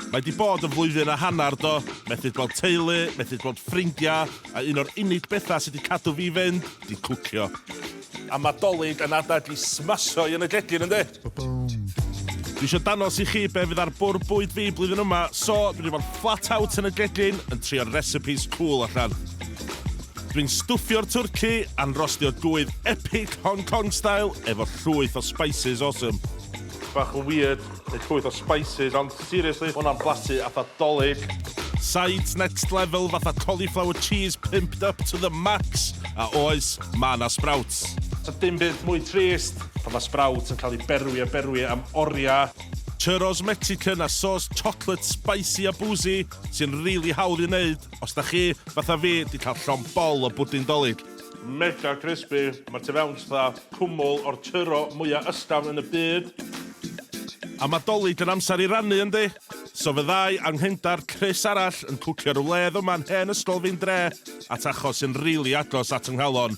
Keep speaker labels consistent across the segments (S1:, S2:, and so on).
S1: Mae 'di bod yn flwyddyn a hanner do, methu gweld teulu, methu gweld ffrindia, a un o'r unig betha sy 'di cadw fi fynd 'di cwcio. A ma 'Dolig yn adeg i smasho'i yn y gegin yndi? Dwi isio danos i chi be fydd ar bwrdd bwyd fi blwyddyn yma, so dwi 'di fod flat out yn y gegin yn trio'r recipes cŵl allan. Dwi'n stwffio'r twrci a'n rostio gwydd epic Hong Kong style efo llwyth o spices awesome. Bach yn weird, neu llwyth o spices, ond seriously, ma' hwnna'n blasu atha Dolig. Sides next level fatha cauliflower cheese pimped up to the max, a oes, ma' 'na sprouts. Does 'na dim byd mwy trist pan ma' sprout yn cael ei berwi a berwi am oriau. Churros Mexican a sauce chocolate spicy a boozy sy'n rili hawdd i'w wneud. Os da chi, fatha fi, di cael llon bol o bwdin Dolig. Mega crispy, mae'r tu fewn fatha cwmwl o'r tyro mwya ysgafn yn y byd. A mae Dolig yn amser i rannu yndi? So fyddai anghendar Chris arall yn cwcio rywledd yma'n hen ysgol fi'n dre at achos sy'n rili agos at ynghalon.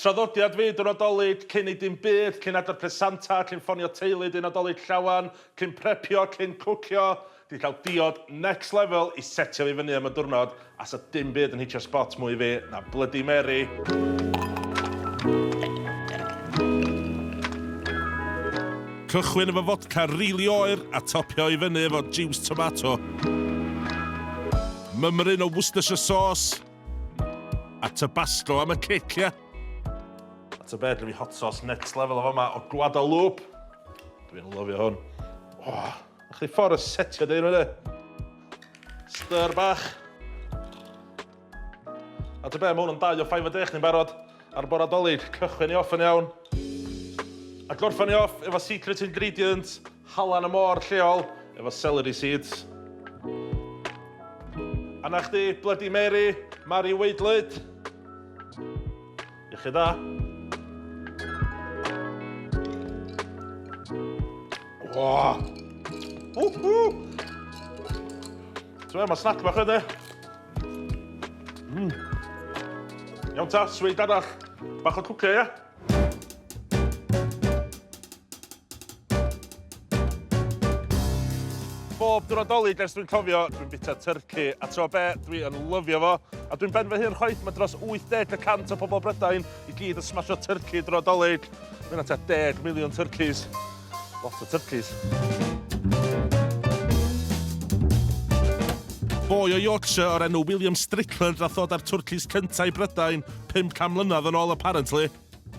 S1: Traddodiad fyd y Nadolig, cyn ei dim byd, cyn adar pres Santa, cyn ffonio teulu dy Nadolig llawen, cyn prepio, cyn cwcio, di cael diod next level i setio fi fyny am y diwrnod a sa dim byd yn hitio sbot mwy fi na Bloody Mary. Cychwyn efo fodca rili oer a topio i fyny efo jiws tomato. Mymryn o Worcestershire sauce. A tabasco am y cic, ia? A ta beth, fi hot sauce next level o fama o Guadalupe. Dwi'n lyfio hwn. Oh, a chdi ffordd y setio dyn nhw, Styr bach. A ta beth, mae hwn yn dau o 5 o dech ni'n barod ar bora dolyg. Cychwyn ni off yn iawn. A gorffan ni off efo secret ingredient Halan y môr lleol efo celery seeds. A 'na chdi, Bloody Mary, Mari Waedlyd. Iechyd da. Oh. Whoo! Ti'n mae snack bach ydy. Mm. Iawn ta, sweet arall. Bach o cwcio, ia? Bob diwrnod dolyg ers dwi'n cofio, dwi'n bita tyrci, a tro be, dwi yn lyfio fo, a dwi'n ben fy hun chwaith, mae dros 80 y cant o pobl Brydain i gyd yn smasho tyrci drwy dolyg. Mae yna ta deg miliwn tyrcis. Lot o turkeys. Boi o Yorkshire o'r enw William Strickland nath ddod â'r twrcis cyntaf i Brydain 500 mlynedd yn ôl apparently,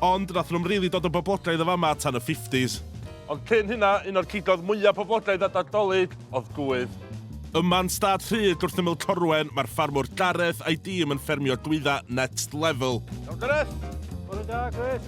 S1: ond nath nhw'm rili dod o boblogaidd y fama tan y 50s. Ond cyn hynna, un o'r cigoedd mwyaf poblogaidd at Nadolig oedd gwydd. Yma yn stad Rhyd, gwrthyml Corwen, mae'r ffarmwr Gareth a'i dîm yn ffermio gwyddau next level. Iawn Gareth! Bore da, Chris.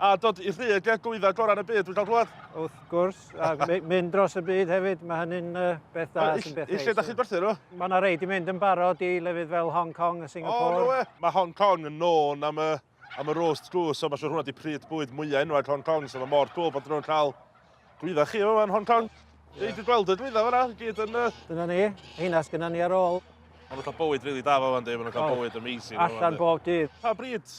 S1: A dod i rhydd y glwyddau gorau yn y byd, dwi'n cael glwad? Wrth gwrs,
S2: a mynd dros y byd hefyd, mae hynny'n uh, beth da sy'n beth neis. Lle da chi'n gwerthu nhw?
S1: Mae
S2: yna
S1: rei di mynd yn
S2: barod i lefydd fel Hong Kong a Singapore. O, no we. Mae Hong Kong
S1: yn nôn am y, am y roast goose, so mae siwr hwnna di pryd bwyd mwyaf enwag Hong Kong, so mae mor cool bod nhw'n cael glwyddau chi yma yn Hong Kong. Yeah. Dwi'n gweld y glwyddau fyna, gyd yn... Uh... Dyna ni, heina
S2: sgynna ni ar ôl. Ond nhw'n cael bywyd rili
S1: really da fo fan di, maen nhw'n cael oh. bywyd amazing. Allan bob dydd. Pa
S2: bryd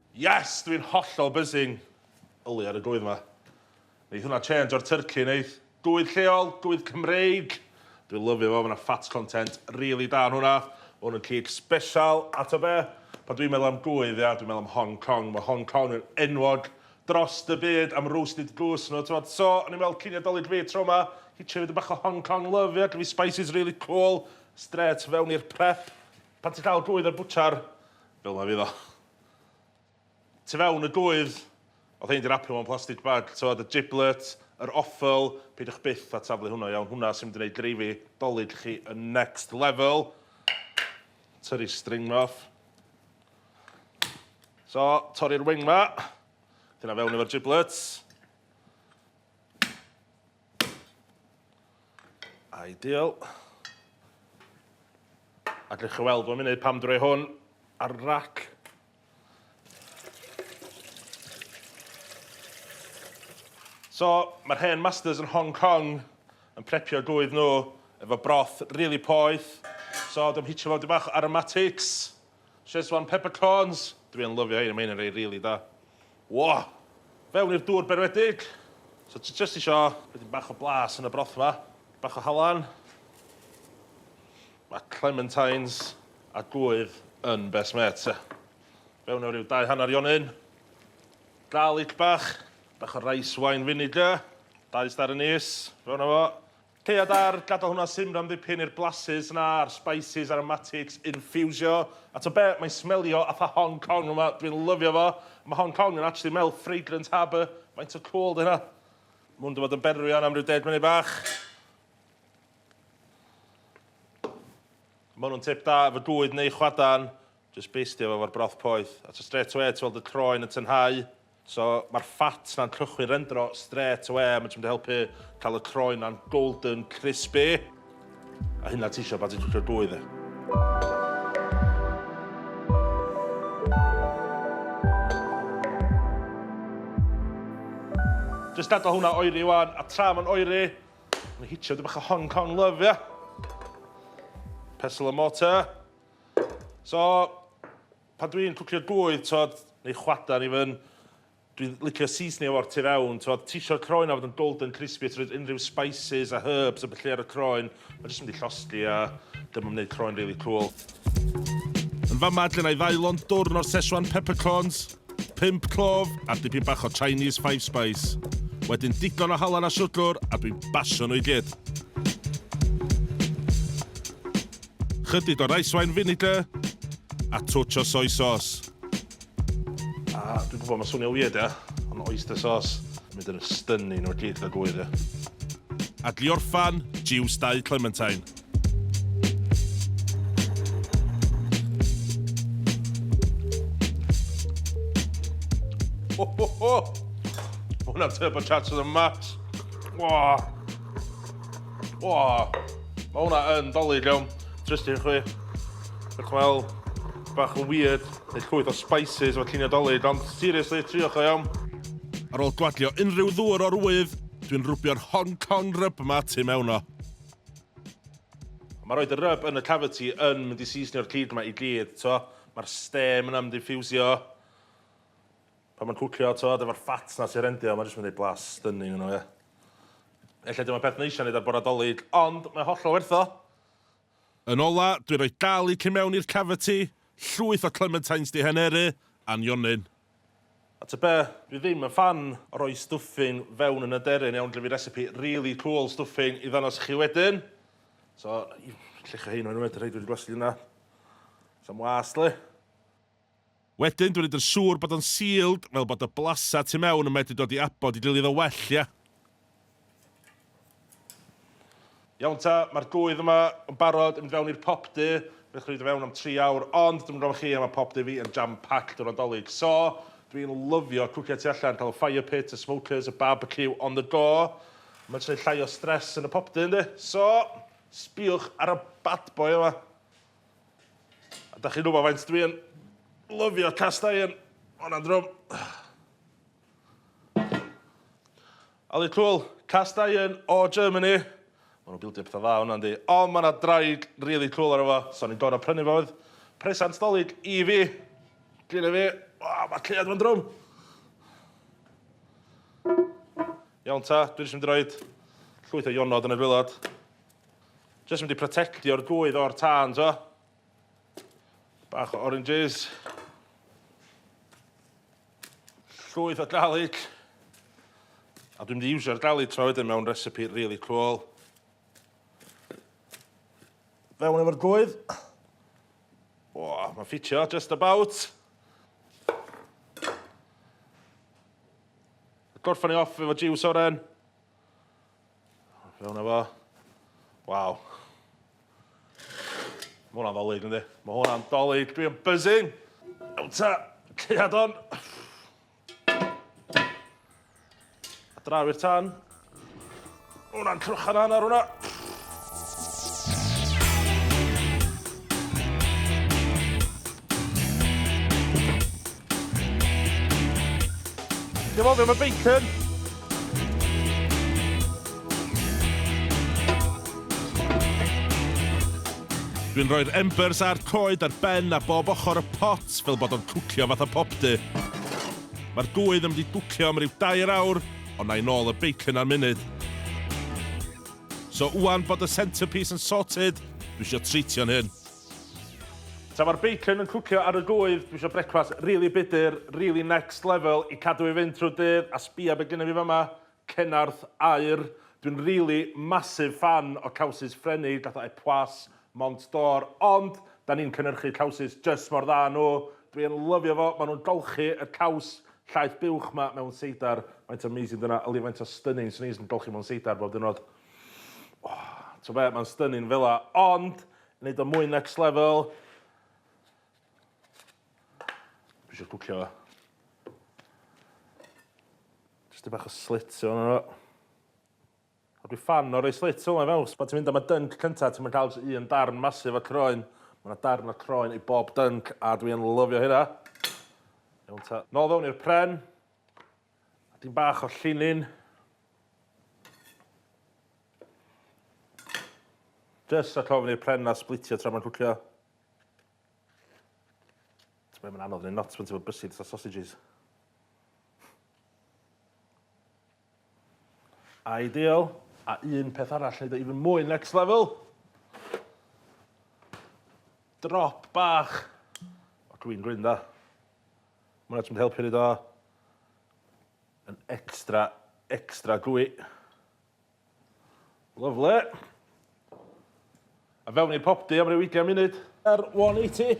S1: Yes! Dwi'n hollol buzzing! Yli ar y gwydd 'ma. Neith hwnna change o'r turkey neith? Gwydd lleol, gwydd Cymreig! Dwi'n lyfio fo, ma' 'na fat content rili da yn hwnna. Ma' hwn yn cig sbesial, a t'o' be'? Pan dwi'n meddwl am gwydd, ia, dwi'n meddwl am Hong Kong. Ma' Hong Kong yn enwog drost y byd am roasted goose nhw, t'mod? So, o'n i'n meddwl cyn i Nadolig fi tro 'ma, hitio fi dipyn bach o Hong Kong love, ia? Gen fi spices rili cwl, strêt fewn i'r prep. Pan ti'n cael gwydd o'r bwtsiar, fel 'ma fydd o. Tu fewn y gŵydd, oedd rhein 'di rapio mewn plastig bag, t'mod y giblet, yr offal, peidiwch byth â taflu hwnna i fewn, hwnna sy'n mynd i neud dreifio 'Dolig chi yn next level. Tyrru string 'ma off. So, torri'r wing 'ma, 'di hynna fewn efo'r giblets. Ideal. A dych chi weld fo'n mynd pam drwy hwn ar rac. So, mae'r hen masters yn Hong Kong yn prepio gwydd nhw efo broth really poeth. So, dwi'n hitio fo dipyn bach aromatics. Schezwan peppercorns! Dwi yn lyfio hein, mae hein yn rei rili da. Wah! Fewn i'r dŵr berwedig! So ti jyst isio roid dipyn bach o blas yn y broth 'ma, dipyn bach o halan, ma' clementines a gŵydd yn best mates ia. Fewn efo ryw dau hanner ionyn, garlic bach, bach o rice wine vinegar, dau star anise, fewn â fo. Ceia dar, gadael hwnna simran ddipyn i'r blasus 'na a'r spices aromatics infiwsio. A t'o' be', mae'n smelio fatha Hong Kong yn fama, dwi'n lyfio fo. Ma' Hong Kong yn actually mel fragrant harbour, faint o cŵl 'di hynna? Ma' hwn 'di bod yn berwi ŵan am ryw deg munud bach. Ma' hwnnw'n tip da efo gŵydd neu chwadan. Jyst bystio fo efo'r broth poeth a so strêt awe ti weld y croen yn tynhau. So ma'r fat 'na'n cychwyn rendro strêt awe a ma' jyst mynd i helpu ca'l y croen 'na'n golden crispy. A hynna ti isio pan ti'n cwcio gwy 'de. Jyst gadal hwnna oeri ŵan a tra ma'n oeri ma' hitio 'dig bach o Hong Kong love ia? Pestle and mortar. So, pan dwi'n cwcio gŵydd, t'od, neu chwadan even, dwi'n licio seasonio fo'r tu fewn, t'od, ti isio'r croen o fod yn golden crispy a ti roid unrhyw spices a herbs a ballu ar y croen, ma' jyst yn mynd i llosgi a dyma wneud croen rili cŵl. Yn fama lle 'na i ddailon dwrn o'r Szechuan peppercorns, pump clove a dipyn bach o Chinese five spice. Wedyn digon o halan a siwgr a dwi'n basio nhw i gyd. Chydig o raiswain vinegar a twtsh o soy sauce. A dwi'n gwybod mae'n swnio weird ia, ond oyster sauce yn mynd yn stunning o'r gyd gyda gŵyr ia. Adlio'r ffan, jiws dau clementine. Hwnna'n turbocharge to the max. Wah! O, mae hwnna yn dolid iawn. Trust i chwi. Dwi'n chwel bach yn weird. Dwi'n llwyth o spices efo lluniau dolid, ond seriously, triwch o iawn. Ar ôl gwadio unrhyw ddŵr o'r wydd, dwi'n rwbio'r Hong Kong rub yma tu mewn o. Mae rhoi y rub yn y cavity yn mynd i seasonio'r cig yma i gyd, to. Mae'r stem yna'n mynd i ffiwsio. Pan mae'n cwcio t'od efo'r fat 'na sy rendio mae jyst yn mynd i blas stunning yno ie. Ella dim y peth neisa neud ar bora Dolig ond mae hollol werth o! Yn ola, dwi roi garlic i mewn i'r cavity, llwyth o clementines di heneru, a nionyn. A ty be, dwi ddim yn ffan o roi stuffing fewn yn aderyn iawn dw fi recipe really cool stuffing i ddanos i chi wedyn so llecha hein mewn unwaith y rhei dwi di blasu di yna sam wast li. Wedyn, dw i'n neud yn siŵr bod o'n sealed fel bod y blasau tu mewn yn medru dod i abod i gilydd yn well, ia? Iawn ta, mae'r gwydd yma yn barod i mynd fewn i'r pop du. Fedrwch chi roid o fewn am tri awr, ond dwi'm yn gwybod am chi, ond mae pop du fi yn jam-packed o Nadolig. So, dw i'n lyfio cwcio tu allan, cael y fire pit, y smokers, y barbecue on the go. Mae'n jyst rhoi llai o stress yn y pop du, yndi? So, sbïwch ar y bad boy yma. A da chi'n gwybod faint dwi yn lyfio cast iron. O'n am drwm. Ali Cwl, cast iron o Germany. Mae nhw'n bildio pethau dda hwnna, yndi. Ond mae yna draig really cool ar efo. So ni'n gorau prynu fo oedd presant dolyg i fi. Gynna fi. O, mae cleiad fo'n drwm. Iawn ta, dwi'n eisiau mynd i roed llwyth o ionod yn y gwylod. Jyst mynd i protectio'r gwydd o'r tân, to. Bach o oranges. Llwyth o garlic. A dwi'n mynd i iwsio'r garlic tro wedyn mewn recipe really cool. Fewn efo'r gwydd. O, mae'n ffitio, just about. Gorffan ni off efo jiws oren. Fewn efo. Waw. Mae hwnna'n ddolig, ynddi? Mae hwnna'n dolig. Dwi yn buzzing. Ewn ta, ceiad on. A draw i'r tan. Mae hwnna'n crochan anna hwnna. Dim ond am y bacon! Dwi'n rhoi'r embers a'r coed ar ben a bob ochr y pot fel bod o'n cwcio fatha popdy. Mae'r gwydd yn mynd i gwcio am ryw dair awr, ond na'i nôl y bacon ar munud. So wwan bod y centrepiece yn sorted, dwi eisiau treitio'n hyn. Tra mae'r bacon yn cwcio ar y gwydd, dwi isio brecwast rili budr, rili next level i cadw i fynd trwy'r dydd, a sbïa be gynna fi fama, Cenarth aur. Dwi'n rili massive fan o cowsys Ffrenig fatha Epoisses, Mont d'Or, ond 'dan ni'n cynhyrchu cowsys jyst mor dda â nhw. Dwi yn lyfio fo, maen nhw'n golchi y caws llaeth buwch 'ma mewn seidar. Faint o amazing 'di hwnna, yli faint o stunning 'swn i jyst yn golchi mewn seidar bob diwrnod. O, t'bo be, mae'n stunning fela, ond Neud o mwy next level. Dwi isio cwcio. Jyst i bach o slit yno fo. A dwi fan o rei slit fel yna fewn. Pan ti'n mynd am y dunk cynta, ti'n mynd cael jyst un darn masif o croen. Mae yna darn o croen i bob dunk, a dwi yn lyfio hynna. Iawn ta. Nôl fewn i'r pren. A dyn bach o llinyn. Jyst rhag ofn i'r pren na splitio tra mae'n cwcio. Ti'n mynd anodd neu not pan ti'n bod bysydd sa sausages. Ideal. A un peth arall, neud o even mwy next level. Drop bach. O, dwi'n gwyn da. Mae hwnna jyst yn helpu neud o yn extra, extra gwy. Lyfle. A fewn i'r popdy am ryw 20 munud. Ar 180.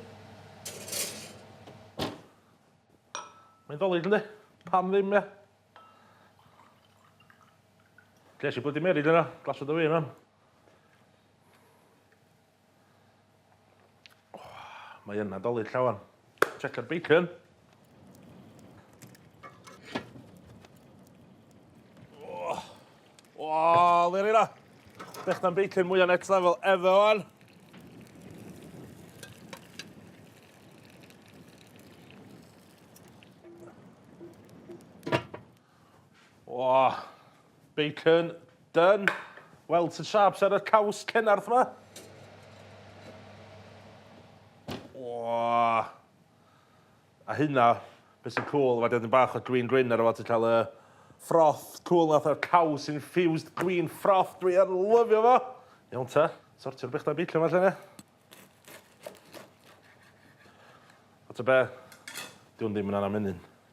S1: Mae'n ddolig ynddi? Pam ddim, ia? Ges i blydi merid yna, glasod o fi yna. Mae yn nadolig llawan. Checkered bacon. Oh, oh le rhaid Bech na'n bacon mwy o next level efe o'n. O, bacon, done. Weld sy'n sharps ar y caws cennarth yma. O. A hynna, beth sy'n cool, mae dydyn bach o green green ar y fo, ti'n cael y froth cool nath o'r caws infused green froth, dwi ar lyfio fo. Iawn ta, sortio'r bechdau beicio yma lle ne. O ta be, diwn ddim yn anna menyn.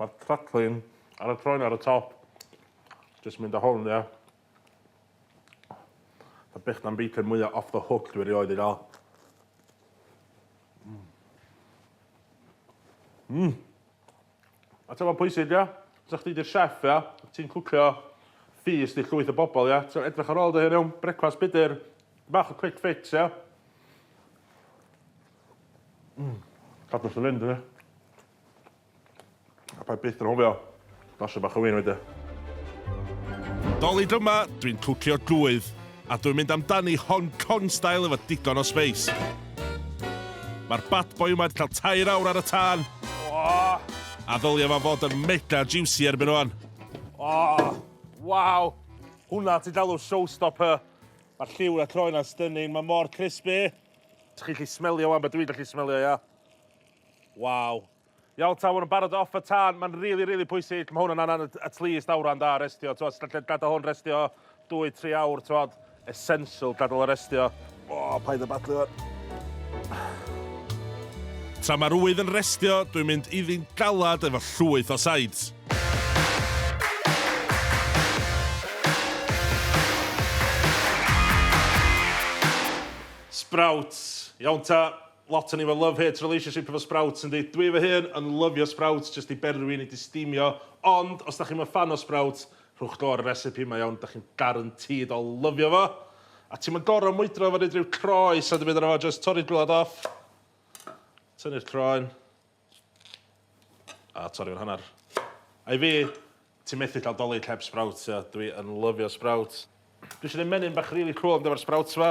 S1: Mae'r crackling ar y croen ar y top. Jyst mynd â hwn, ia. Y bych na'n bacon mwyaf off the hook dwi erioed i gael. Mmm. Mmm. A ti'n fawr pwysig, ia? Sa chdi di'r chef, ia? Ti'n cwcio feast i llwyth o bobl, ia? Ti'n edrych ar ôl dy hun, iawn? Brecwast budr. Bach o quick fix, ia? Mmm. Cadw wrth fy fynd, ia? A paid byth anghofio basio bach o win weithiau. Dolig yma, dwi'n cwcio gŵydd, a dwi'n mynd amdani Hong Kong style efo digon o sbeis. Mae'r bad boy yma wedi cael tair awr ar y tân, a ddylia fo fod yn mega juicy erbyn ŵan. Oh, waw! Hwnna ti'n galw showstopper! Mae'r lliw yn y croen 'na'n stunning, mae mor crispy! Dych chi'n gallu smelio 'wan be dwi'n gallu smelio, ia? Waw. Iawn ta, ma' nw'n barod off y tân. Ma'n rili rili pwysig. Ma' hwn yn angan at at least awran da restio. T'mo' os gallu gadal hwn restio dwy tri awr t'mod essential gadal o restio. O paid â badlu ŵan. Tra ma'r ŵydd yn restio, dwi'n mynd iddi'n galad efo llwyth o sides. Sprouts. Iawn ta. Lot o ni efo love hate relationship efo Sprouts yndi? Dwi fy hun yn lyfio Sprouts jyst i berwi nid i stimio ond os dach chi'm yn ffan o Sprouts rhowch go ar y recipe mae iawn dach chi'n garantîd o lyfio fo a ti'm yn gor'o' mwydro efo neud rhyw croes a dim byd arno fo jyst torri'r gwilod off tynnu'r croen a torri fo'n hannar a i fi ti methu ca'l Dolig heb Sprouts ia dwi yn lyfio Sprouts. Dwi isio neud menyn bach rili cŵl am efo'r Sprouts 'ma.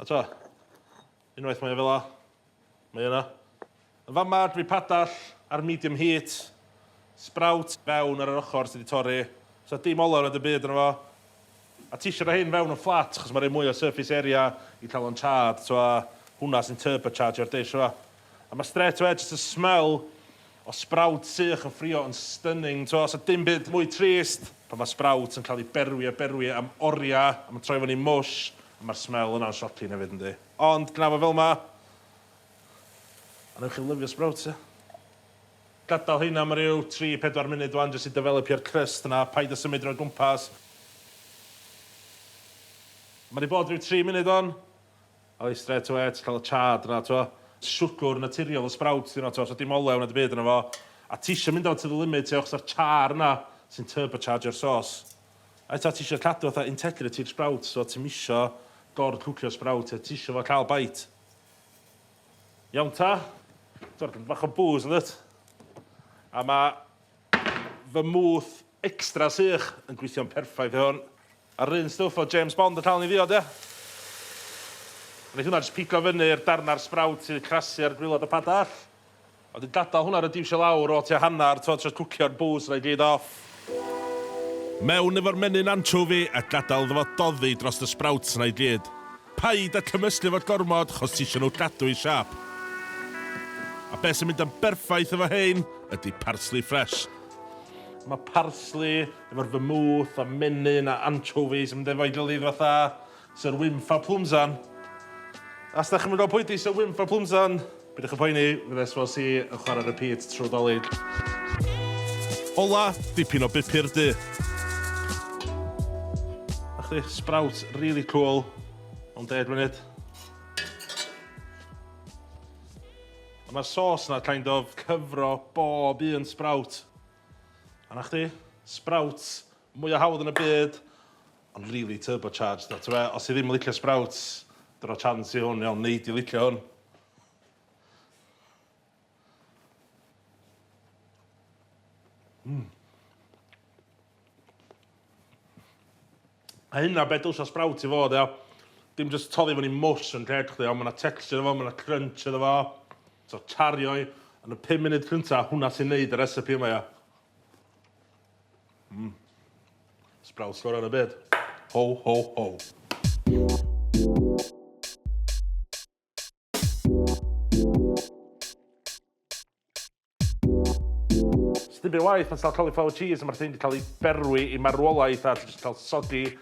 S1: A ta, unwaith mae o fel 'a, mae yna. Yn fama dwi padall ar medium heat, sprout fewn ar yr ochr sydd 'di torri, so dim olew na dim byd arno fo. A tisio rhoi hyn fewn yn fflat achos mae'n rhoi mwy o surface area i cael o'n charred, so a hwnna sy'n turbochargio'r dish yma. A mae straight away jyst y smell o sprout sych yn ffrio yn stunning, so so dim byd mwy trist pan mae sprout yn cael ei berwi a berwi am oriau a mae'n troi fyny mush, Mae'r smell yna'n shocking hefyd yndi? Ond gna fo fel 'ma! A newch chi lyfio sprouts ia? Gadael heina am ryw tri, pedwar munud wan jyst i defelipio'r crust 'na, paid a symud drwy'r gwmpas. Mae 'di bod ryw tri munud wan. A wedyn strêt awe ti'n cael y chard 'na t'mo'. Siwgwr naturiol y sprouts 'di hwnna t'mo' so dim olew na dim byd yno fo. A ti isio mynd â fo to the limit ia achos 'a'r char 'na sy'n turbochargio'r sauce. Ai ta ti isio cadw fatha integrative sprouts so ti'm isio gor cwcio sprout a ti isio fo ca'l bite. Iawn ta? T'mod ma' bach o bŵs yndwt? A ma' fy mwth extra sych yn gweithio'n perffaith i hwn. A'r un stwff o James Bond yn ca'l ni ddiod ia? Neith hwnna jyst pigo fyny i'r darna'r sprout sydd crasu ar gwilod y padall. A wedyn gadael hwnna ryw diwsio lawr o tua hanner t'mod jyst cwcio'r bws yna i gyd off. Mewn efo'r menyn anchovi a gadael iddo fo doddi drost y sprouts yna i gyd. Paid a cymysgu fo gormod chos tisio nhw gadw i siâp. A be sy'n mynd yn berffaith efo hein ydi parsley fresh. Mae parsley efo'r vermouth a menyn a anchovies yn mynd efo'i gilydd fatha. Sir Wynfa Plumsan. Os da chi'm yn gwybod pwy di Sir Wynfa Plumsan, bydwch yn poeni, fydde SVC yn chwarae repeat trwy Dolig. Ola, dipyn o bupur du. A chdi, sprout really cool. Ond deg munud. A mae'r sauce na kind of cyfro bob un sprout. A na chdi, sprouts mwyaf hawdd yn y byd. Ond rili turbo charged o. T'be os ti ddim yn licio sprouts, dyna chance i hwn iawn, nei di licio hwn. Mm. A hynna be' dwsio sprout i fod ia. Dim jyst toddi fyny mwsh yn lled chdi ond ma' 'na texture efo, ma' 'na crunch iddo fo. So chario i yn y pum munud cynta, hwnna sy'n neud y recipe yma ia. Mm. Sbrawd sgora yn y byd. Ho, ho, ho. Sdim byd waith pan ti'n cael cauliflower cheese a mae'r thing wedi cael ei berwi i marwolaeth a ti'n cael soggy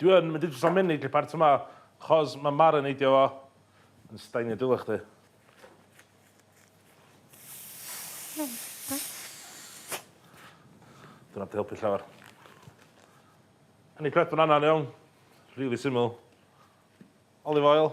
S1: Dwi yn mynd i jyst amenyd i'r part yma, chos ma' marineidio fo yn stainio dy ulo chdi. Dyna di helpu llawer. Yn i prep banana yn iawn. Rili syml. Olive oil.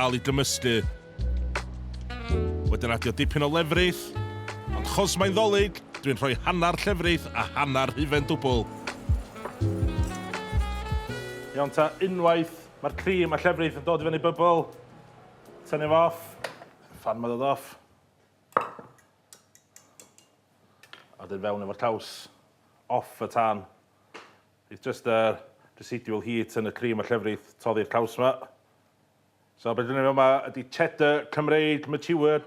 S1: Al i gymysgu. Wedyn adio dipyn o lefrith, ond chos mae'n ddolig, dwi'n rhoi hanner llefrith a hanner hufen dwbl. Iawn ta, unwaith mae'r cream a llefrith yn dod i fyny bybl, tynnu fo off, fan mae dod off. A wedyn fewn efo'r caws, off y tan. It's just yr residual heat yn y cream a llefrith toddi'r caws yma. So be' 'dan ni'n neud fama ydi Cheddar Cymreig mature.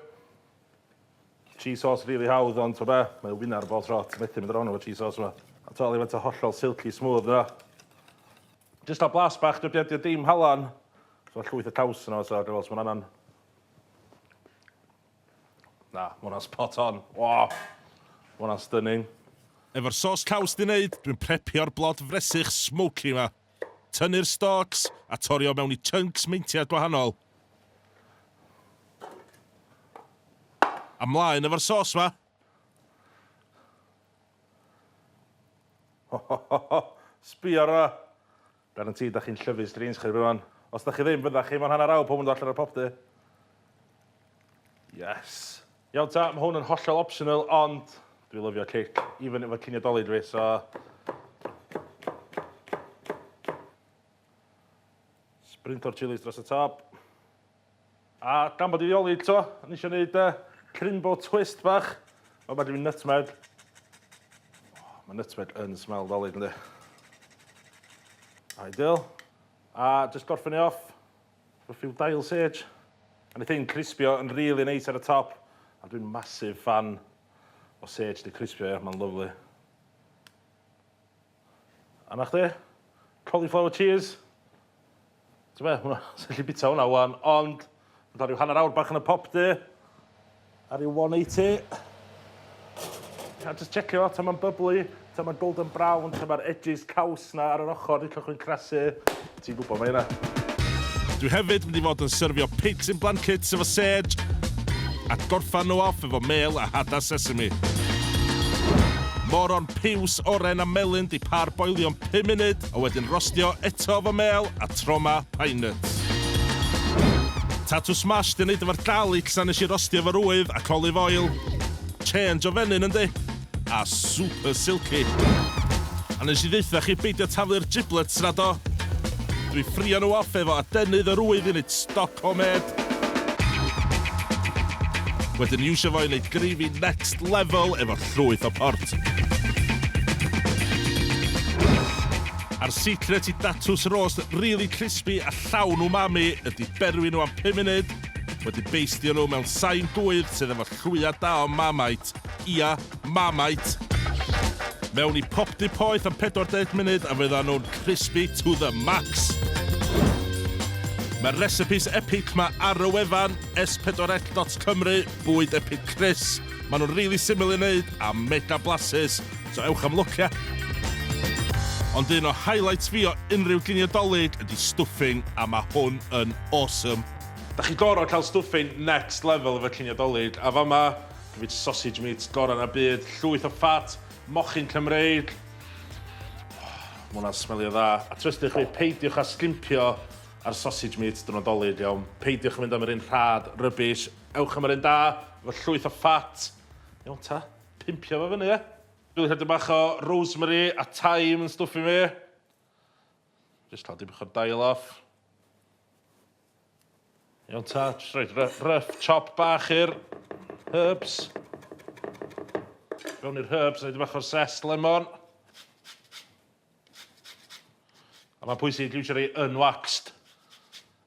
S1: Cheese sauce rili hawdd ond t'o' be', mae o wynnar bob tro, ti methu mynd rong efo cheese sauce 'ma. A t'wel' i faint o hollol silky smooth mae o. Jyst fel blas bach dydi o 'di o dim halan. So ma' llwyth o caws yno so ga'i weld os ma'n angan. Na, ma' wnna'n spot on. Waw! Ma' wnna'n stunning. Efo'r sos caws 'di neud, dwi'n prepio'r blod fresych smoky 'ma. Tynnu'r stalks a torio mewn i chunks meintiad gwahanol. A mlaen efo'r sos 'ma! Ho ho ho ho! Sbia ar 'wna! Guaranteed 'da chi'n llyfu'n strange chi erbyn wan. Os 'da chi ddim, fydda chi mewn hanner awr pob yn dod allan o'r popty. Yes! Iawn ta, mae hwn yn hollol optional, ond dwi lyfio cic, even efo cinio Dolig fi, so... Sprinto'r chilis dros y top. A gan bod i fioli eto, o'n i eisiau gwneud uh, crimbo twist bach. Mae'n bad i fi nutmeg. Oh, mae nutmeg yn smell Dolig, ynddi. Ideal. A just gorffen i off. Love you Dial Sage. A neith hyn crispio yn rili neis ar y top. A dwi'n massive fan o sage 'di crispio ia, ma'n lyfli. A 'na chdi. Cauliflower cheese. T'be' hwnna, 'swn i gallu bita hwnna ŵan, ond ma' 'na ryw hanner awr bach yn y pop du. Ar i 180. A jyst checio ta ma'n byblu, ta ma'n golden brown, ta ma'r edges caws 'na ar yr ochor yn cychwyn crasu. Ti'n gwbo mae yna. Dwi hefyd mynd i fod yn syrfio pigs in blankets efo sêj, a gorffan nhw off efo mêl a hada sesame. Moron piws, oren a melyn 'di par-boilio'n pum munud. a wedyn rostio eto efo mêl a troma pine nuts. Tatws smash di neud efo'r garlics a nes i rostio efo'r ŵydd ac olive oil. Change o fenyn yndi? A super silky. A nes i ddeutha chi beidio taflu'r giblets na do? Dwi ffrio nhw off efo adenydd yr ŵydd i neud stoc homemade. Wedyn iwsio fo i neud gravy next level efo ystafell llwyth o port. A'r secret i datws roast rili crispy a llawn umami ydi berwi nhw am pum munud, wedyn beistio nhw mewn sain gŵydd sydd efo llwya da o Marmite, ia, Marmite! Mewn i popty poeth am 40 munud a fyddan nhw'n crispy to the max! Mae'r recipes epic 'ma ar y wefan, s4l dot cymru, Bwyd Epig Chris. Maen nhw'n rili syml i wneud a mega blasus, so ewch am lwc ie? Ond un o highlights fi o unrhyw ginio Dolig ydi stuffing a ma hwn yn awesome. Dach chi goro cael stuffing next level efo cinio Dolig, a fama dw i 'di sausage meat gora na byd, llwyth o ffat, mochyn Cymreig. Ma hwnna'n smelio dda. A trystwch chi, peidiwch â sgimpio ar sausage meat diwrnod Dolig, iawn? Peidiwch â mynd am yr un rhad, rubbish. Ewch am yr un da, efo llwyth o ffat. Iawn ta, pimpio fo fyny ia. Dwi wedi rhoi bach o rosemary a thyme yn stwff i mi. Just llaw dipyn o'r dail off. Iawn ta, just rhoi rough chop bach i'r herbs. Fewn i'r herbs, rhoi dipyn bach o'r zest lemon. A mae'n pwysig i iwsio rei unwaxed.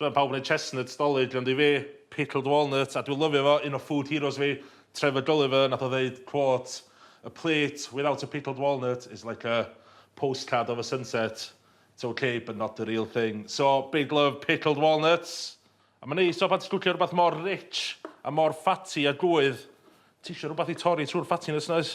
S1: Mae pawb yn dweud chestnuts 'Dolig, ond i fi, pickled walnuts, a dwi'n lyfio fo, un o food heroes fi, Trevor Gulliver, nath o ddeud, quote, A plate without a pickled walnut is like a postcard of a sunset, it's ok but not the real thing. So, big love pickled walnuts. A mae'n neis tibod pan ti'n cwcio rhywbeth mor rich a mor ffatty a gŵydd, ti isio rhywbeth i torri trwy'r ffattiness 'na oes?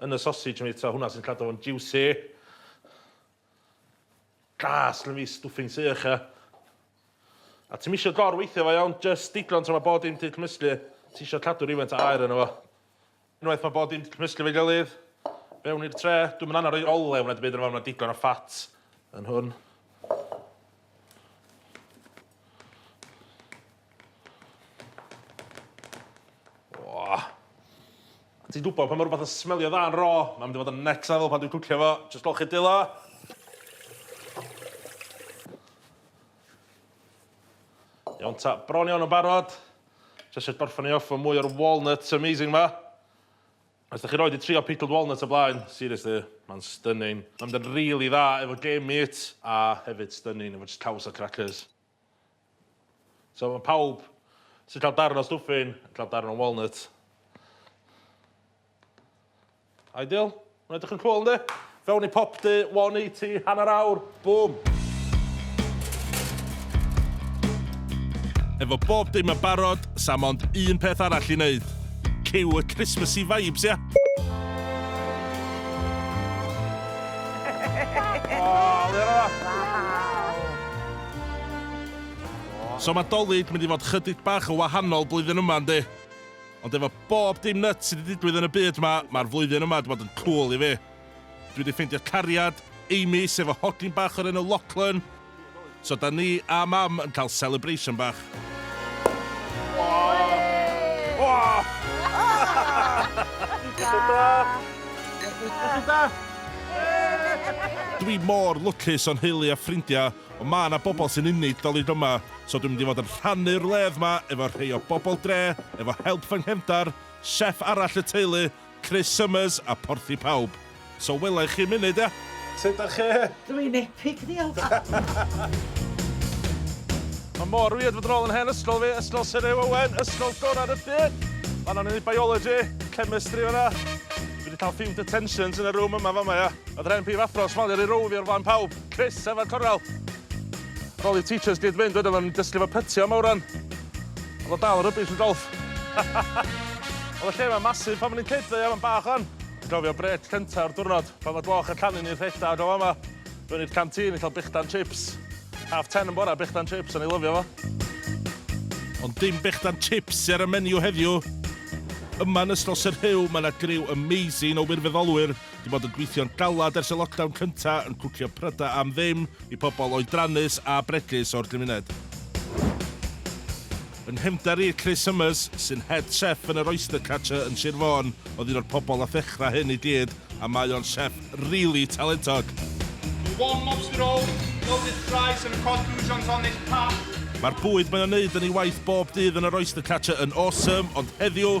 S1: Yn y sosij yn fita hwnna sy'n cadw fo'n jiwsi. Gas lun fi stwffing sych ia. A ti'm isio gor weithio fo iawn, jyst digon tra mae bod dim di cymysglu. Ti isio cadw rywfaint o aer yno fo. Unwaith mae bod dim di cymysglu efo'i gilydd, fewn i'r tre. Dwi'm yn annog roi olew na dim byd yno fo, mae yna digon o fat yn hwn. Ti'n gwybod pan mae rhywbeth yn smelio dda yn ro, mae'n mynd i fod yn next level pan dwi'n cwcio fo. Just dol chi dilo. Iawn ta, bron iawn yn barod. Just eisiau gorffen i off fo mwy o'r walnuts amazing ma. Os dach chi roed 'di trio pickled walnuts o blaen, seriously, ma'n stunning. Ma'n mynd yn rili dda efo game meat a hefyd stunning efo jyst caws a cracyrs. So ma' pawb sy'n cael darn o stwffyn yn cael darn o walnut. Ideal? Ma'n edrych yn cwl yndi? Fewn i Pop Dy 180 hanner awr, bum! Efo bob dim yn barod, sa mond un peth arall i neud. Cue y Christmasy vibes, ia? So ma Dolig mynd i fod chydig bach yn wahanol blwyddyn yma yndi? Ond efo bob dim nyts sydd 'di digwydd yn y byd 'ma, ma'r flwyddyn yma 'di bod yn cŵl i fi. Dwi 'di ffeindio cariad, Amy, sef y hogyn bach o'r enw Lachlan. So 'da ni a Mam yn cael celebration bach. Dwi mor lwcus o'n nheulu a ffrindiau Ond ma' 'na bobl sy'n unigolyn yma, so dwi'n mynd i fod yn rhannu'r wledd 'ma efo rhei o bobl dre, efo help fy nghefndar, chef arall y teulu, Chris Summers a Porthi Pawb. So wela i chi munud, ia? Sut dach chi? Dw i'n epic,
S3: ddiolch!
S1: Ma' mor weird fod yn ôl yn hen ysgol fi, Ysgol Syr Huw Owen, ysgol gorau'r Rhydyr! Fan'na o'n i'n neud Biology, Chemistry fan'na. Fi 'di ca'l few detentions yn y room yma fama ia. O'dd yr hen prifathro yn smalio rhy rownd fi o'r flaen pawb. Chris efo'r cornel. Ar ôl i'r teachers gyd fynd wedyn oedden ni'n dysgu fo pytio am awran. O'dd o dal yn rubbish yn golff. O'dd y lle 'ma'n massive pan o'n i'n kid ddo ia, ma'n bach ŵan. Dwi'n cofio brêc cynta o'r diwrnod pan o'dd gloch y llanw'n un rhedag o fama. Mewn i'r canteen i ca'l brechdan chips. Half ten yn bora brechdan chips, o'n i'n lyfio fo. Ond dim brechdan chips sy ar y menu heddiw. Yma yn ysgol Sir Rhiw ma' 'na griw amazing o wirfoddolwyr 'di bod yn gweithio'n galad ers y lockdown cynta yn cwcio pryda am ddim i pobl oedrannus a bregus o'r gymuned. Yng nghefnder i, Chris Summers, sy'n head chef yn yr Oyster Catcher yn Sir Fôn, oedd un o'r pobl a ddechrau hyn i gyd a mae o'n chef rili talentog. One lobster roll, loaded fries and a cod croutons on
S4: this path. Mae'r bwyd mae
S1: o'n neud yn ei waith bob dydd yn yr Oyster Catcher yn awesome, ond heddiw,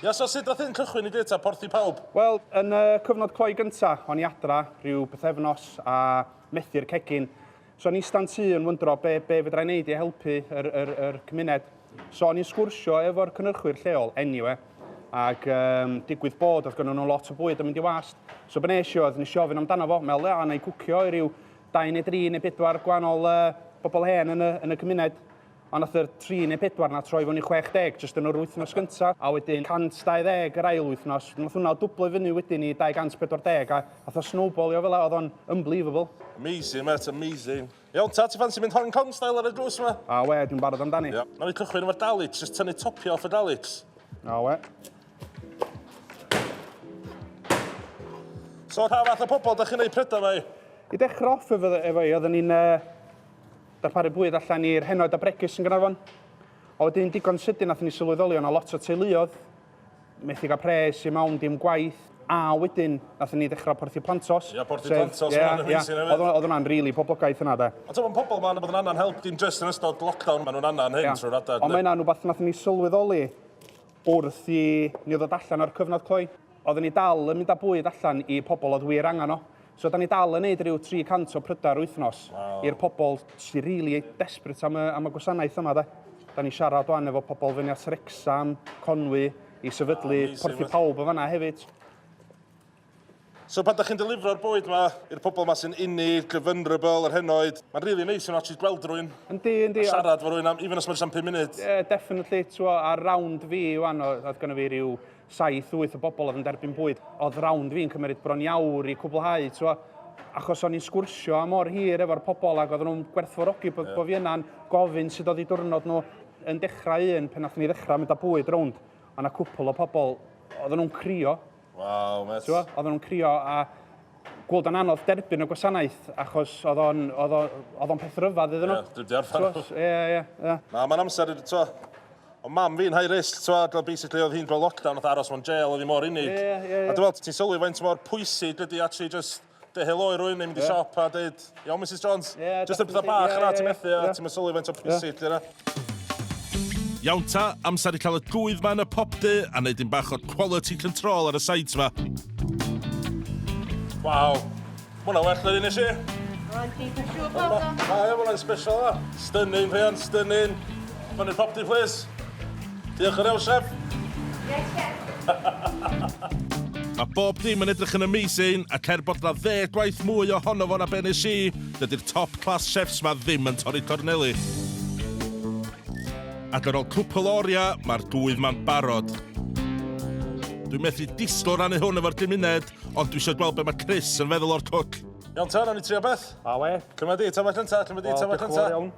S1: Ia,
S5: so sut nath hyn
S1: cychwyn i gyd ta porthi pawb? Wel, yn y
S5: cyfnod cloi gynta, o'n i adra, rhyw bythefnos, a methu'r cegin. So o'n i'n ista'n tŷ yn wyndro be, be fedra i wneud i helpu yr, yr, yr cymuned. So o'n i'n sgwrsio efo'r cynhyrchwyr lleol, anyway, ac um, digwydd bod oedd gynnu nhw lot o bwyd yn mynd i wast. So be nes i oedd, nes i ofyn amdano fo, meddwl, ia, na i gwcio i ryw dau neu dri neu bedwar gwahanol uh, bobl hen yn y, yn y cymuned. Ond nath yr tri neu pedwar 'na troi fyny 60 jyst yn yr wythnos gynta, a wedyn 120 yr ail wythnos. Nath hwnna dwblo i fyny wedyn i 240 a nath o snowbalio fela, o'dd o'n unbelievable. Amazing mêt,
S1: amazing. Iawn ta, ti ffansi mynd Hong Kong style ar y drws 'ma? Awe, dwi'n barod amdani.
S5: Iawn, nawn ni cychwyn efo'r
S1: dalits, jyst tynnu topia off y dalits. Awe. So pa fath o pobol 'dach chi'n neud pryda 'ma i? I dechra off
S5: efo efo i oedden ni'n yy Darparu bwyd allan i'r henoed a bregus yn Gaernarfon. A wedyn digon sydyn nathon ni sylweddoli o'na lot o teuluodd methu ga'l pres i mawn dim gwaith a wedyn nathon ni ddechra Porthi Plantos. Ia Porthi Plantos sef, ia,
S1: ia, o'dd o'dd hwnna'n rili poblogaidd
S5: hwnna de. Ond t'mo' ma' pobol ma' bod yn annan
S1: help dim jyst yn ystod lockdown ma' nhw'n annan hyn trwy'r adag. Ond ma' hynna'n wbath nathon ni
S5: sylweddoli Wrth i ni ddod allan o'r cyfnod cloi, oedden ni dal yn mynd â bwyd allan i pobl oedd wir angen o. So da ni dal yn neud ryw 300 o prydau yr wythnos i'r pobl sy rili desperate am y am y gwasanaeth yma de. Da ni'n siarad wan efo pobl fyny at Wrecsam, Conwy, i sefydlu Porth i Pawb yn fan'na hefyd.
S1: So pan ydych chi'n delifro'r bwyd yma i'r pobl yma sy'n inni, the vulnerable, yr henoed, mae'n rili really neis yn actually gweld rwy'n yndi, yndi, a siarad
S5: fo rwy'n am,
S1: even os mae'n siarad 5 munud. Ie, yeah, definitely, ti'n
S5: ar round fi iwan, oedd gynnu fi rhyw 7-8 o bobl oedd yn derbyn bwyd, oedd round fi'n cymryd bron iawr i cwblhau, ti'n achos o'n i'n sgwrsio am o'r hir efo'r pobl ac oedden nhw'n gwerthfawrogi bod, yeah. bod fi yna'n gofyn sydd oedd i diwrnod nhw yn dechrau un pen nath ni ddechrau mynd â bwyd rownd. Ond a cwpl o pobl, oedden nhw'n crio, Waw, mae... T'wo,
S1: oedden nhw'n crio a
S5: gweld o'n anodd derbyn y gwasanaeth achos oedd o'n oedd o'n oedd o'n peth ryfedd iddyn nhw. Ie,
S1: dwi wedi arfer. T'wo, ie, ie, ie. Na,
S5: mae'n amser,
S1: t'wo, o mam fi'n high risk, t'wo, a basically oedd hi'n gweld lockdown, oedd aros mewn jail oedd hi mor unig. Ie, ie, ie. A dwi'n meddwl, ti'n
S5: sylwi faint
S1: mor pwysig ydy actually just Dy helo i rwy'n mynd i siop a dweud, iawn Mrs Jones, jyst yn pethau bach yna ti'n methu a ti'n mysylwi faint o pwysig di yna. Iawn ta, amser i cael y gwydd ma yn y pop du a wneud un bach o quality control ar y sides ma. Waw, ma hwnna well na un eisiau. Rwy'n ti yn
S3: siŵr bod o'n... Mae hwnna'n special
S1: yna. Stunning, Rhian, stunning. Fyny'r pop du, please. Diolch yr Elsef! Yes, chef!
S3: Mae
S1: bob dim yn edrych yn amazing, ac er bod 'na ddeg gwaith mwy ohono fo na be nes i, dydi'r top class chefs 'ma ddim yn torri corneli. Ac ar ol cwpwl o oria, mae'r gŵydd 'ma'n barod. Dwi methu disgwyl rannu hwn efo'r gymuned, ond dwi isio gweld be mae Chris yn feddwl o'r cwc. Iawn ta, nawn ni trio beth? Awe. Cymra di,
S5: ta beth cynta,
S1: cymra di, ta beth cynta. Wel, diolch yn fawr iawn.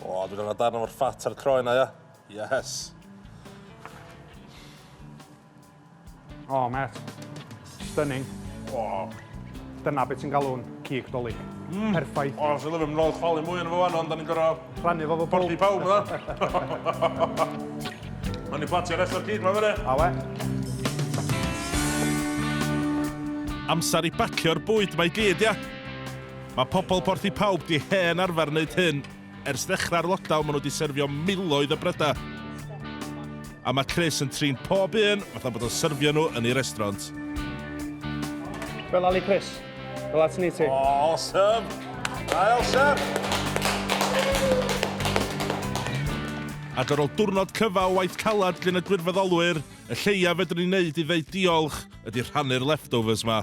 S1: O, dwi'n angen darn o'r ffat a'r croen a ia. Yes.
S5: O, met. Stunning. O.
S1: Dyna
S5: beth sy'n galw'n cig dolyg. Mm. Perffaith. O, sy'n lyfio, mynd
S1: chwalu mwy yn efo fan, ond da ni'n gorau... Rhannu fo fo bwyd. Porti pawb,
S5: yna.
S1: Ond ni'n platio rest o'r cig, mae'n fyny. A we. Amser i bacio'r bwyd mae gyd, ia? Mae pobl Porth y Pawb 'di hen arfer wneud hyn. Ers ddechrau'r lockdown maen nhw 'di syrfio miloedd o brydau. A mae Chris yn trin pob un fatha bod o'n syrfio nhw yn ei restraunt.
S5: Fel Ali Chris. Fel at ni ti. Awesome!
S1: Ail chef! Ac ar ôl diwrnod cyfa o waith calad gin y gwirfoddolwyr, y lleiaf fedrwn ni wneud i ddeud diolch ydy rhannu'r leftovers 'ma.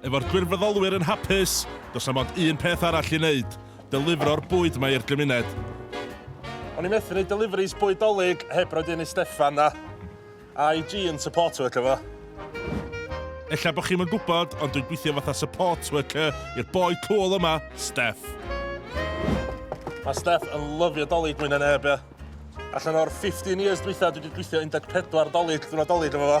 S1: Efo'r gwirfoddolwyr yn hapus, does 'na mond un peth arall i wneud, delifro'r bwyd 'ma i'r gymuned. O'n i methu neud deliveries bwyd Dolig heb roid un i Steffan a I G yn support worker fo. Ella bo chi'm yn gwbod, ond dwi'n gwithio fatha support worker i'r boi cŵl yma, Steff. Mae Steff yn lyfio Dolig mwy na neb, ia. Allan o'r 15 years dwytha dwi wedi gweithio 14 Dolig, ddiwrnod Dolig efo fo.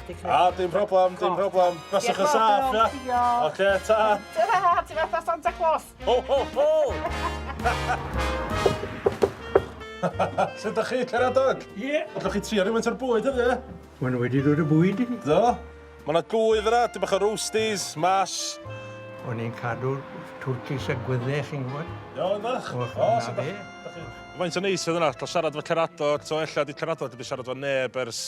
S3: A, dim problem, dim
S1: problem. Byswch yn saff, ia? Diolch. Oce, ta. Ta-ra, ti fatha
S3: Santa Claus. Ho,
S1: ho, ho! Sut ydych chi, Caradog? Ie. Ydych chi trio
S6: rhywun o'r
S1: bwyd ydy? ie? Mae'n wedi dod y
S6: bwyd i ni. Do? Mae yna
S1: gwydd yna, dim bach o roasties, mash. O'n i'n
S6: cadw twrcis a gwydde, chi'n gwybod? Iawn, ydych? O, sut ydych
S1: chi?
S6: Faint o
S1: neis oedd yna, cael siarad efo Caradog, to ella di Caradog wedi siarad efo neb ers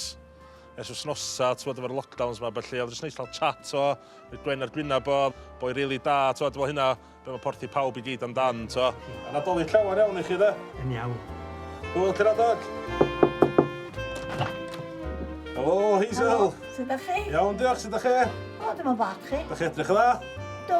S1: ers wsnosa, t'wod, efo'r lockdowns 'ma a ballu, o'dd jyst neis cael chat, t'wo', rhoi gwên ar gwynab o, boi rili da, t'wod, fel hynna, be' ma' porthi pawb i gyd amdan, t'wo'. A Nadolig llawer iawn i chi 'de? Yn iawn.
S6: Hwyl ti
S1: Nadolig! Helo, Hazel! Helo, sud 'dach chi?
S3: Iawn, diolch, sud 'dach chi?
S1: O, dim on' bach, chi?
S3: 'Dach chi edrych yn dda?
S1: Do.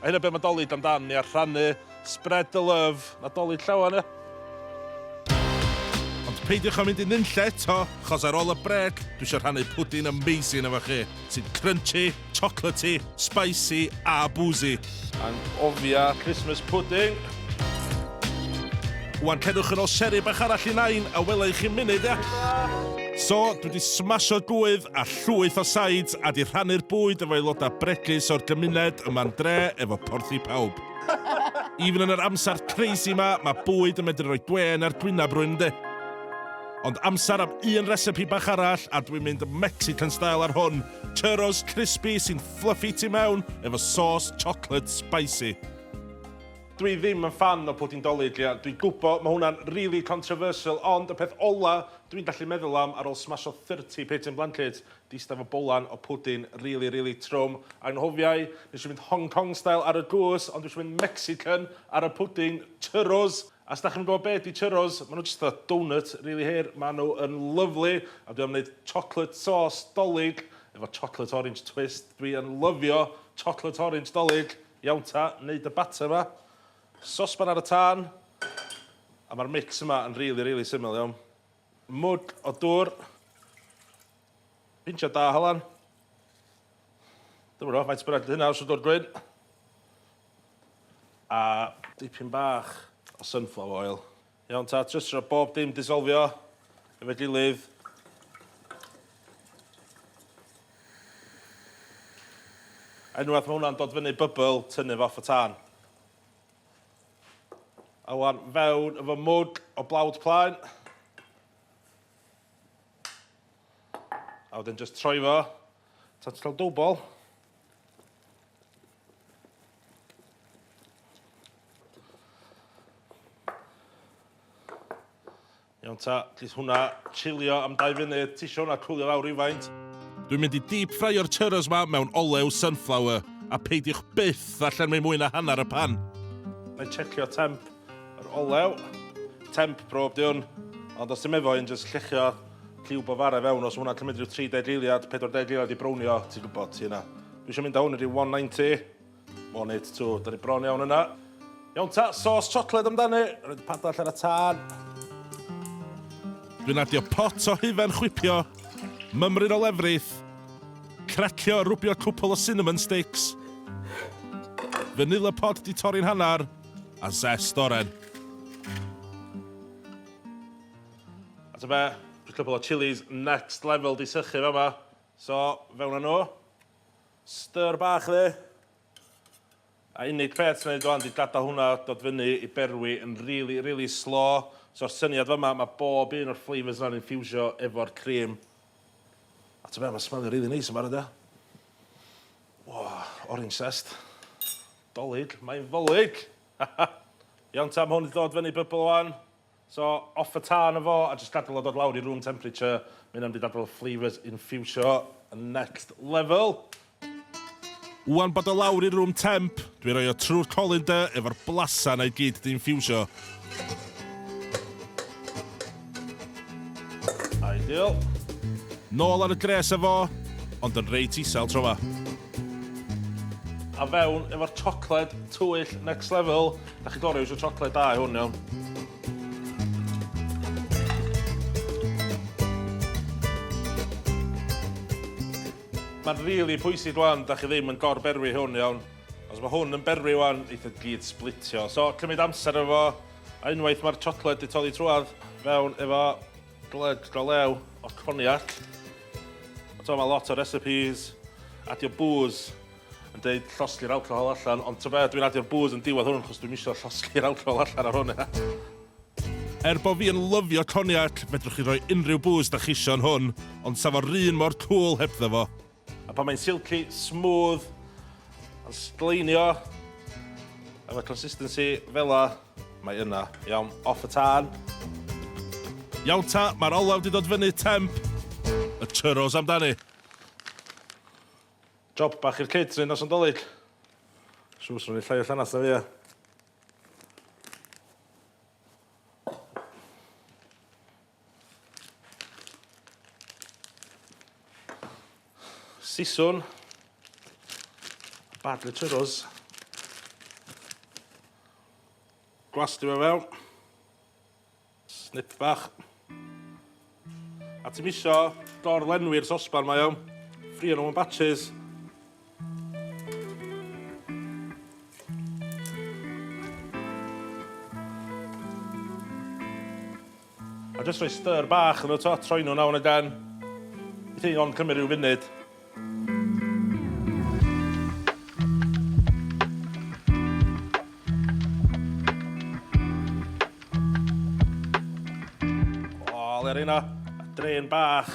S1: A hynna be mae Dolig amdan, ia, rhannu, spread the love, 'na Dolig llawen ia. Ond peidiwch â mynd i nunlle eto, chos ar ôl y brêc dwi isio rhannu pwdin amazing efo chi, sy'n crunchy, chocolatey, spicy a boozy. Anghofia Christmas pudding! Wan cedwch yn ol seri bach arall i Nain a wela i chi'n munud ia? So, dwi wedi smasho gwydd a llwyth o sides a di rhannu'r bwyd efo aelodau bregus o'r gymuned yma'n dre efo porth i pawb. Even yn yr amser crazy ma, ma bwyd yn medru roi gwên ar gwynab rwyn yndi? Ond amser am un recipe bach arall a dwi'n mynd Mexican style ar hwn, churros crispy sy'n fluffy tu mewn efo sauce chocolate spicy. Dwi ddim yn ffan o pwdin Dolig, ia, dwi'n gwbo ma' hwnna'n rili controversial ond y peth ola dwi'n gallu meddwl am ar ôl smasho thirty pit yn Blanket 'di ista efo bowlan o pwdin rili rili trwm. Anghofiai, nesh i fynd Hong Kong style ar y gwsg ond dwi isio mynd Mexican ar y pwdin! Churros! A os 'dach chi'm yn gwbo be' 'di churros, ma' nw jyst fatha doughnut rili hir, ma' nw yn lyfli a dwi am neud chocolate sauce Dolig efo chocolate orange twist, dwi yn lyfio chocolate orange Dolig! Iawn ta, neud dy batter yma. Sosban ar y tân. A ma'r mix yma yn rili rili syml iawn. Mwd o dwr. Pinch o da halan. Dwi'm yn gwbo faint bynnag 'di hynna os dwr gwyn. A dipyn bach o sunflower oil. Iawn ta, jyst rho bob dim disolfio efo'i gilydd. Unwaith mae hwnna'n dod fyny bybl, tynnu fo off y tân. A wan fewn efo mwg o blawd plaen. A wedyn jyst troi fo. Tan ti'n cael dwbl. Iawn ta, gith hwnna chilio am 2 funud, ti eisiau hwnna cwlio lawr rhywfaint? Dwi'n mynd i deep ffraio'r churros ma mewn olew sunflower, a peidiwch byth a llenwi mwy na hanner y pan. Na i checio temp yr olew. Temp prob di hwn, ond os ti'n meddwl i'n just llechio lliw bofare fewn, os hwnna cymryd rhyw 30 eiliad, 40 eiliad i brownio, ti'n gwybod, ti yna. Dwi eisiau mynd â hwn i ryw 190. One eight two, da ni bron iawn yna. Iawn ta, sos chocolate amdani. Rhaid padall ar y tân. Dwi'n adio pot o hufen chwipio, mymryn o lefrith, cracio a rwbio cwpl o cinnamon sticks, vanilla pod di torri'n hanner, a zest oren. A ta be, just cwpl o chillies next level di sychu fama. So, fewn â nhw. Stir bach dde. A unig peth sy'n neud wan 'di gadael hwnna dod fyny i berwi yn rili, rili slo. So'r syniad fama, mae bob un o'r flavours yna'n infiwsio efo'r cream. A ti'n be, mae'n smelio rili neis yn barod ia. O, orange zest. Dolig, mae'n ddolig! Iawn ta, mae hwn 'di dod fyny bybl wan. So off y tân efo a jyst gadel o dod lawr i room temperature, ma' hynna'n mynd i dadl y flavours infiwsio yn next level. Ŵan bod o lawr i room temp, dwi'n rhoi o trwy'r colander efo'r blasa 'na i gyd 'di infiwsio. Ideal. Nôl ar y gres efo, ond yn reit isel tro 'ma. A fewn efo'r chocolate twyll next level. Da chi gorau yw'r siocled da i hwn, iawn? Mae'n rili really pwysig rwan, da chi ddim yn gor-berwi hwn, iawn? Os mae hwn yn berwi rwan, eitha e gyd splitio. So, cymryd amser efo, a unwaith mae'r siocled di toddi trwad, fewn efo gled go lew o coniac. So, mae lot o recipes, adio booze yn deud llosgi'r alcohol allan, ond ta be, dwi'n adio'r bŵs yn diwedd hwn, chos dwi'm isio llosgi'r alcohol allan ar hwn, ia. Er bo fi yn lyfio cognac, fedrwch chi roi unrhyw bŵs da chisio yn hwn, ond sa fo'r un mor cŵl hebddo fo. A pan mae'n silky, smooth, yn sgleinio, efo consistency fela, mae yna. Iawn, off y tân. Iawn ta, mae'r olew di dod fyny, temp. Y churros amdani. Job bach i'r kids hyn os yn dolig. Siŵr swn i llai o llanast na fi ia? Siswn. Badly churros. Glas di fe fel. Snip bach. A ti'n misio dor-lenwi'r sosban mae o. Ffrio nhw yn batches. A jyst rhoi stir bach yn y to, troi nhw nawr yn y gan. Bydd hyn ond cymryd rhyw funud. yna, a drain bach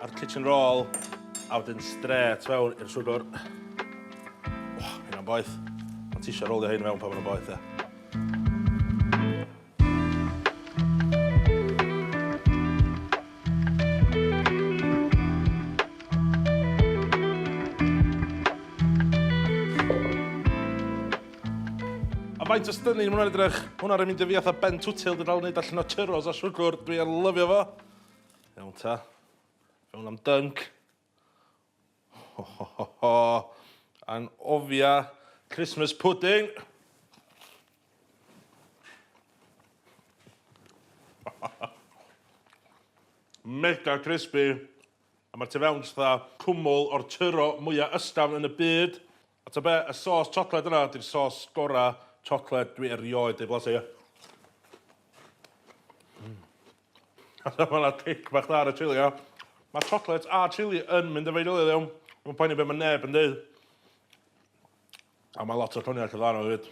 S1: a'r kitchen roll, a wedyn stret fewn i'r swgwr. Oh, hynna'n boeth. Ond ti eisiau rolio hyn mewn pan mae'n boeth, e. faint o stunning mae hwnna'n edrych. Hwnna'n mynd i fi atho ben twtil, dwi'n dal yn neud allan o churros a siwgr, dwi'n lyfio fo. Iawn ta. Fe hwnna'n dunk. Ho ho ho ho! Anghofia Christmas pudding! Mega crispy, a mae'r tu fewn jyst fatha cwmwl o'r tyro mwya ysgafn yn y byd. A ta be, y sôs chocolate yna 'di'r sôs gora chocolate dwi erioed 'di blasu. Mm. A ta ma' 'na cic bach dda ar y chili ia? Ma' chocolate a chili yn mynd efo'i gilydd iawn. Dwi'm yn poeni be' ma' neb yn deud. A ma' lot o coniac yn dda yno hefyd.